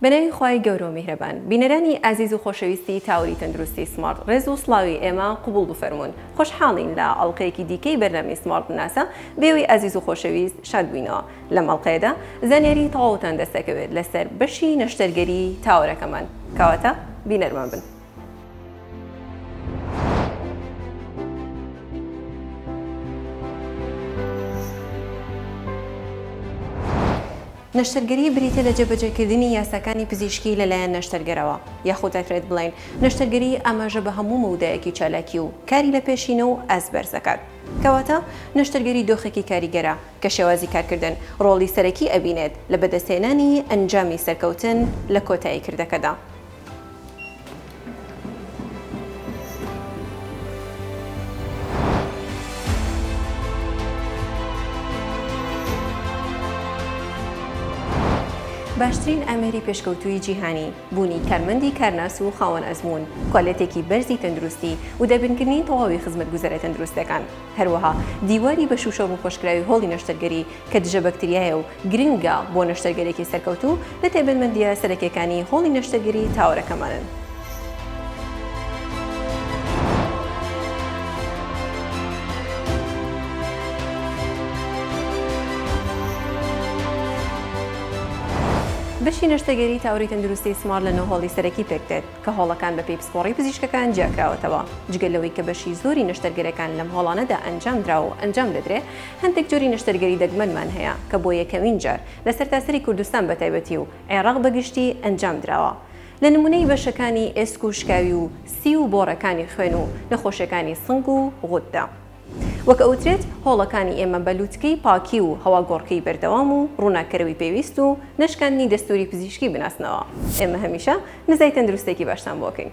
بەناوی خوای گەورە و میهرەبان بینەرانی ئازیز و خۆشەویستی تاوەری تەندروستی سمارت ڕێز و سڵاوی ئێمە قوبوڵ بفەرموون خۆشحاڵین لە ئەڵقەیەکی دیکەی بەرنامەی سمارت بناسە بێوەی ئازیز و خۆشەویست شاد بووینەوە لەم ئەڵقەیەدا زانیاری تەواوتان دەست دەکەوێت لەسەر بەشی نەشتەرگەری تاوەرەکەمان کەواتە بینەرمان بن. نەشتەرگەری بریتیە لە جێبەجێکردنی یاساکانی پزیشکی لەلایەن نەشتەرگەرەوە یاخود دەکرێت بڵێین نەشتەرگەری ئاماژە بە هەموو مەودایەکی چالاکی و کاری لە پێشینە و ئاست بەرز دەکات کەواتە نەشتەرگەری دۆخێکی کاریگەرە کە شێوازی کارکردن ڕۆڵی سەرەکی ئەبینێت لە بەدەستهێنانی ئەنجامی سەرکەوتن لە کۆتایی کردەکەدا. باشترین ئامێری پێشکەوتووی جیهانی، بوونی کارمەندی کارناس و خاوەن ئەزموون، کوالێتێکی بەرزی تەندروستی و دابینکردنی تەواوی خزمەتگوزاریە تەندروستەکان، هەروەها دیواری بە شووشەومخۆشکراوی هۆڵی نەشتەرگەری، کە دژە بەکتریایە و گرنگە بۆ نەشتەرگەرێکی سەرکەوتوو، لە تایبەتمەندییە سەرەکییەکانی هۆڵی نەشتەرگەری تاوەرەکەمانن. بەشی نەشتەگەری تاوەری تەندروستی سمارت لە نۆ هۆڵی سەرەکی پێکدێت، کە هۆڵەکان بەپێی پسپۆڕی پزیشکەکان جیاکراوەتەوە. جگە لەوەی کە بەشی زۆری نەشتەرگەرەکان لەم هۆڵانەدا ئەنجامدراوە و ئەنجام دەدرێ، هەندێک جۆری نەشتەرگەری دەگمەنمان هەیە کە بۆ یەکەمین جار لە سەرتاسەری کوردستان بە تایبەتی و عێراق بە گشتی ئەنجام دراوە لە نموونەی بەشەکانی ئێسک و شکاوی و سی و بۆڕەکانی خوێن و نەخۆشیەکانی سنگ و غوددە وەک ئەوترێت هۆڵەکانی ئێمە بە لوتکەی پاکی و هەواگۆڕکێی بەردەوام و ڕووناککەرەوی پێویست و نەشکاندنی دەستووری پزیشکی بناسنەوە ئێمە هەمیشە نزای تەندروستێکی باشتان بۆ ئەکەین.